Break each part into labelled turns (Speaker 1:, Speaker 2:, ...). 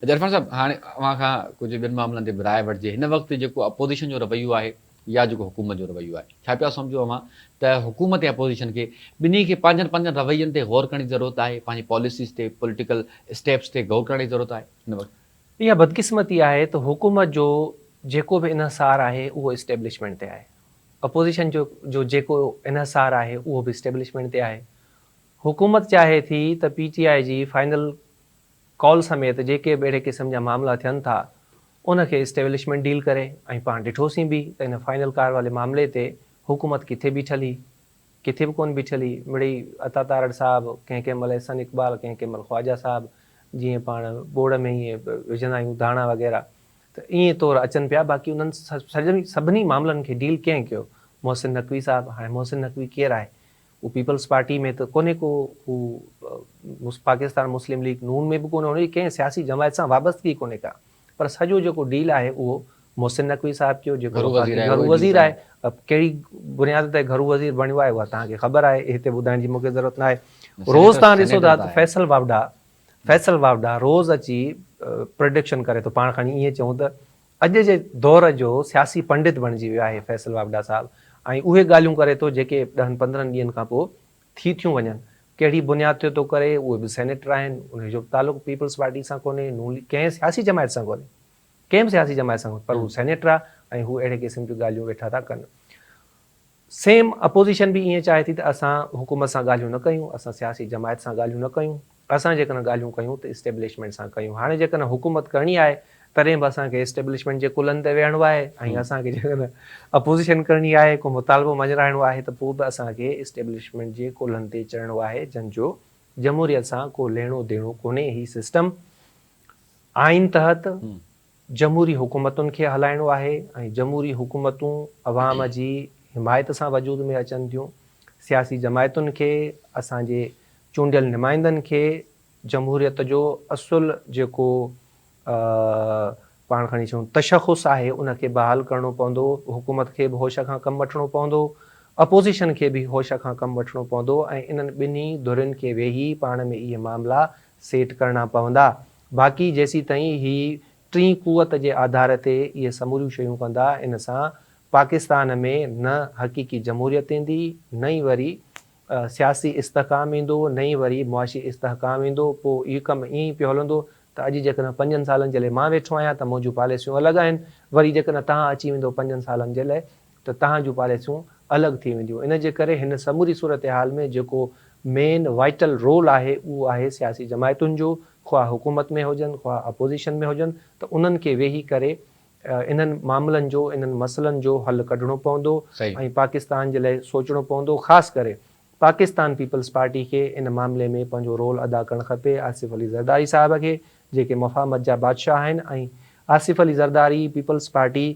Speaker 1: عرفان صاحب هاڻي اوهان کان ڪجهه ٻين معاملن تي به راء وٺجي هن وقت جيڪو اپوزيشن جو رويو آهي يا جيڪو حڪومت جو رويو آهي ڇا پيا سمجهو اوهان ته حڪومت يا اپوزيشن کي ٻنهي کي پنهنجن پنهنجن روين تي غور ڪرڻ جي ضرورت آهي پنهنجي پاليسيز تي پوليٽيڪل اسٽيپس تي غور ڪرڻ جي ضرورت آهي هن وقت. اها بدقسمتي
Speaker 2: آهي ته حڪومت جو جيڪو به انحصار آهي اهو اسٽيبلشمينٽ تي آهي اپوزيشن جو جو جيڪو انحصار آهي اهو به اسٽيبلشمينٽ تي آهي حڪومت چاهي ٿي ته پي ٽي آء جي فائنل ڪال سميت جيڪي به اهڙي قسم جا معاملا ٿين ٿا ان کي اسٽيبلشمينٽ ڊيل ڪري ۽ پاڻ ڏٺوسين به ته ان فائنل ڪار والي معاملي تي حڪومت ڪٿي بيٺل هئي ڪٿي به ڪونه بيٺل هئي مڙئي عطا تارڙ صاحب ڪنهن ڪنهن مهل احسن اقبال ڪنهن ڪنهن مهل خواجا صاحب جيئن پاڻ ٻوڙ ۾ ائين وجهندا آهيون ڌاڻا وغيره ته ائين طور اچن پيا باقي انهن سڀني معاملن کي ڊيل ڪنهن ڪيو محسن نقوي صاحب هاڻي محسن نقوي ڪير آهي هو پيپلز پارٽي ۾ ته ڪونهي ڪو هو پاڪستان مسلم ليگ نون ۾ به ڪونهي هن جي ڪنهن سياسي جماعت سان وابستگي ڪونهي ڪا پر سڄو جيڪو ڊيل آهي اهو محسن نقوي صاحب ڪيو جيڪو گهرو وزير آهي ڪهڙي بنياد تي گهرو وزير بڻيو آهي اها توهان کي خبر آهي هتي ٻڌائڻ جي مون کي ضرورت ناهي روز توهان ڏسو ٿا ته فيصل واوڊا فيصل واوڊا روز اچي پرڊڪشن ڪري ٿو پاڻ کڻي ائين چئون ته اڄ جي دور جو سياسي پنڊت بڻجي ويو آهي فيصل واوڊا صاحب ۽ اهي ڳالهيون ڪري ٿو جيڪي ڏهن پندرهن ڏينهن کان پوء ٿي ٿيون وڃن. ڪهڙي بنياد تي ٿو ڪري، اهي به سينيٽر آهن، انهي جو به تعلق پيپلز پارٽي سان ڪونهي، نون ليگ ڪنهن سياسي جماعت سان ڪونهي، ڪنهن به سياسي جماعت سان ڪونهي پر هو سينيٽر آهي ۽ هو اهڙي قسم جون ڳالهيون ويٺا ٿا ڪن. سيم اپوزيشن به ائين چاهي ٿي ته اسان حڪومت سان ڳالهيون نه ڪيون، اسان سياسي جماعت سان ڳالهيون نه ڪيون، اسان جيڪڏهن ڳالهيون ڪيون ته اسٽيبلشمينٽ سان ڪيون، هاڻي جيڪڏهن حڪومت ڪرڻي آهي تڏهن به اسان کي اسٽيبلشمينٽ جي ڪلهن تي ويهڻو آهي ۽ اسان کي جيڪڏهن اپوزيشن ڪرڻي آهي، ڪو مطالبو مڃرائڻو آهي ته پوء به اسان کي اسٽيبلشمينٽ جي ڪلهن تي چڙهڻو آهي جنهن جو جمهوريت سان ڪو ليڻو ديڻو ڪونهي، هي سسٽم آئين تحت جمهوري حڪومتن کي هلائڻو آهي ۽ جمهوري حڪومتون عوام جي حمايت سان وجود ۾ اچن ٿيون. سياسي جماعتن کي، اسان جي چونڊيل نمائندن کي جمهوريت جو اصل جيڪو پاڻ کڻي چئون تشخص آهي ان کي بحال ڪرڻو پوندو، حڪومت کي به هوش کان ڪم وٺڻو پوندو، اپوزيشن کي به هوش کان ڪم وٺڻو پوندو ۽ انهن ٻنهي ڌرين کي ويهي پاڻ ۾ اهي معاملا سيٽ ڪرڻا پوندا. باقي جيسيتائين هي ٽين قوت جي آڌار تي اهي سموريون شيون ڪندا ان سان پاڪستان ۾ نه حقيقي جمهوريت ايندي نه ئي وري سياسي استحڪام ايندو نه ئي وري معاشي استحڪام ايندو پوء هي ڪم ائين ئي پيو هلندو ته اڄ جيڪڏهن پنجن سالن جي لاء مان ويٺو آهيان ته منهنجون پاليسيون الڳ آهن وري جيڪڏهن تهان اچي ويندو پنجن سالن جي لاء ته تهان جون پاليسيون الڳ ٿي وينديون ان جي ڪري هن سموري صورتحال ۾ جيڪو مين وائيٽل رول آهي اهو آهي سياسي جماعتن جو خواه حڪومت ۾ هجن خواه اپوزيشن ۾ هجن ته انهن کي ويهي ڪري انهن معاملن جو انهن مسئلن جو حل ڪڍڻو پوندو ۽ پاڪستان جي لاء سوچڻو پوندو خاص ڪري پاڪستان پيپلز پارٽي کي ان معاملي ۾ پنهنجو رول ادا ڪرڻ کپي آصف علي زرداري صاحب کي جيڪي مفاهمت جا بادشاهه آهن ۽ آصف علي زرداري پيپلز پارٽي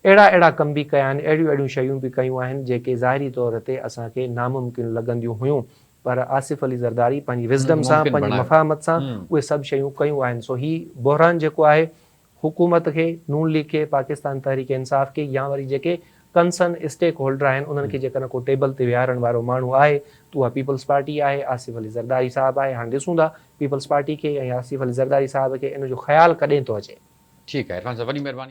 Speaker 2: اهڙا اهڙا ڪم به ڪيا آهن، اهڙيون اهڙيون شيون به ڪيون آهن جيڪي ظاهري طور تي اسان کي ناممڪن لڳنديون هيون پر آصف علي زرداري پنهنجي Wisdom سان پنهنجي مفاهمت سان اهي سڀ شيون ڪيون آهن سو هي بحران جيڪو آهي حڪومت کي، نون ليگ کي، پاڪستان تحريڪ انصاف کي يا وري جيڪي Concern Stake Holder آهن انهن کي جيڪڏهن ڪو ٽيبل تي ويهارڻ وارو ماڻهو آهي ته اها پيپلز پارٽي آهي آصف علي زرداري صاحب آهي هاڻ ڏسون ٿا پيپلز پارٽي کي ۽
Speaker 1: آصف
Speaker 2: علي زرداري
Speaker 1: صاحب
Speaker 2: کي ان جو
Speaker 1: خيال
Speaker 2: ڪڏهن ٿو
Speaker 1: اچي.
Speaker 2: ٺيڪ آهي عرفان صاحب وڏي مهرباني.